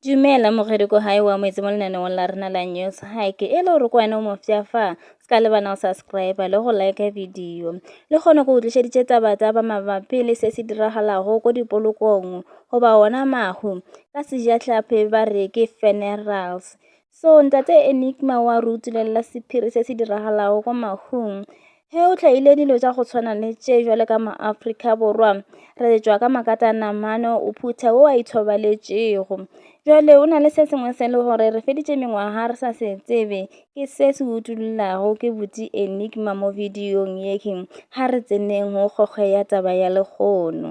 Dumela mogedi ko hae wa moetse mo lenaneong la rena la news hike e le gore ko wena o mofsa fa se ka lebana o subscribe le go like video le kgone go tlišeditše taba tsa ba mabapi le se se diragalago ko dipolokong goba ona mahu ka sejatlhapi ba re ke funerals so ntate enigma wa re utulela sephiri se se diragalago ko mahung He o tlhaile dilo tša go tshwana le tše jwale ka maAfrika Borwa, re tšwa ka makata namano o phutha wo a ithobaletšego. Jwale o na le se sengwe se le gore re feditše mengwaga re sa se tsebe, ke se se utollelago ke butse enigma mo videong yeke, ga re tseneng go kgokge ya taba ya lekgono.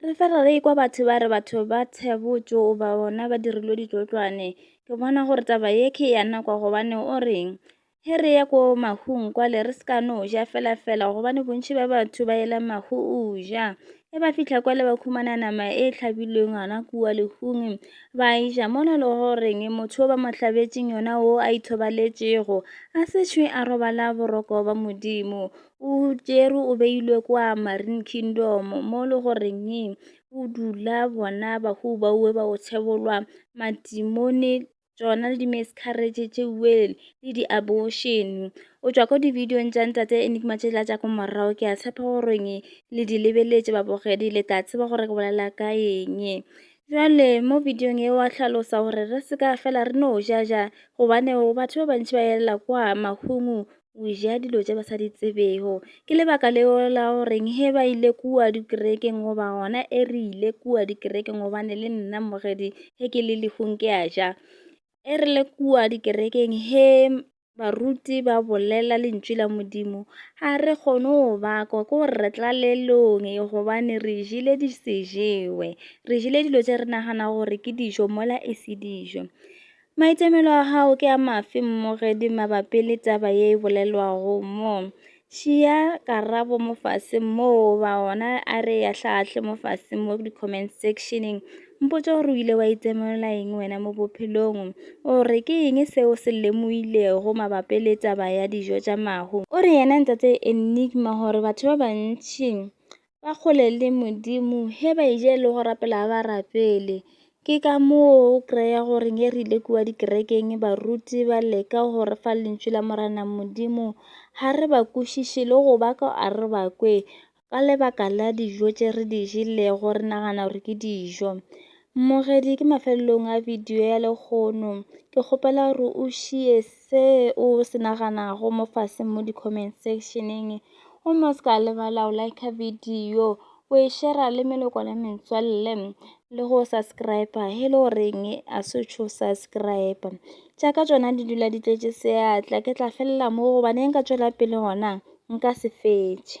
Re fela re ikwa batho ba re batho ba tshebotšo oba bona ba dirilwe ditšotlwane. Ke bona gore taba ye ke ya nako gobane o reng he re ye ko mahung kwale re se ka no ja fela fela gobane bontši ba batho ba ela mahu o ja. Ge ba fihla kwale ba khumana nama e hlabilweng gona kua lehung ba e ja mona le goreng motho o ba mo hlabetšeng yona o a ithobaletšego a se šwe a robala boroko ba Modimo. o tšerwe o beilwe kwa marine kingdom mo le goreng o dula bona bahu ba uwe ba o tshebolwa matimone tsona le di-miscarriage tše well le di-abortion o tšwa ko di-videong tša ntate enigma tše la tša ko morago ke a tshepa goreng le di lebeletše babogedi le tla tseba gore ke bolela ka eng jale mo videong e wa hlalosa gore re se ka fela re no jaja gobane batho ba bantši ba elela kwa mahungu o ja dilo tše ba sa di tsebego ke lebaka leo la goreng he ba ile kua dikerekeng goba gona e re ile kua dikerekeng gobane le nna mmogedi ge ke le lehung ke a ja e re le kua dikerekeng he baruti ba bolela lentšu la modimo ga re kgone go bakwa ke gore re tla lelong e gobane re jele di se jewe re jele dilo tše re nagana gore ke dijo mola e se dijo Maitemelo a gago ke a mafe mmogedi mabapi le taba ye e bolelwago mo? Šia karabo mo fase moo ba ona a re ya hlaahle mo fase mo di-comment sectioneng. Mpotse gore o ile wa itemelela eng wena mo bophelong. O re ke eng seo se lemoilego mabapi le taba ya dijo tša mahu? O re yena Ntate Enigma gore batho ba bantši ba kgole le modimo he ba e je le go rapela ba rapele ke ka moo o kry-a gore ge re ile kua dikerekeng baruti ba leka go re fa lentšu la morana modimo ga re ba kwešiše le go ba ka a re ba kwe ka lebaka la dijo tše re di jelego re nagana gore ke dijo mmogedi ke mafelelong a video ya lekgono ke kgopela gore o šies se o se naganago mo faseng mo di-comment sectioneng gomme o se ka lebala o like video o e shera le meloko le metswalle le go subscribe he le goreng a se tšho subscribe tša ka tsona di dula di tletše seatla ke tla felela mo gobaneng ka tšwela pele gona nka se fetše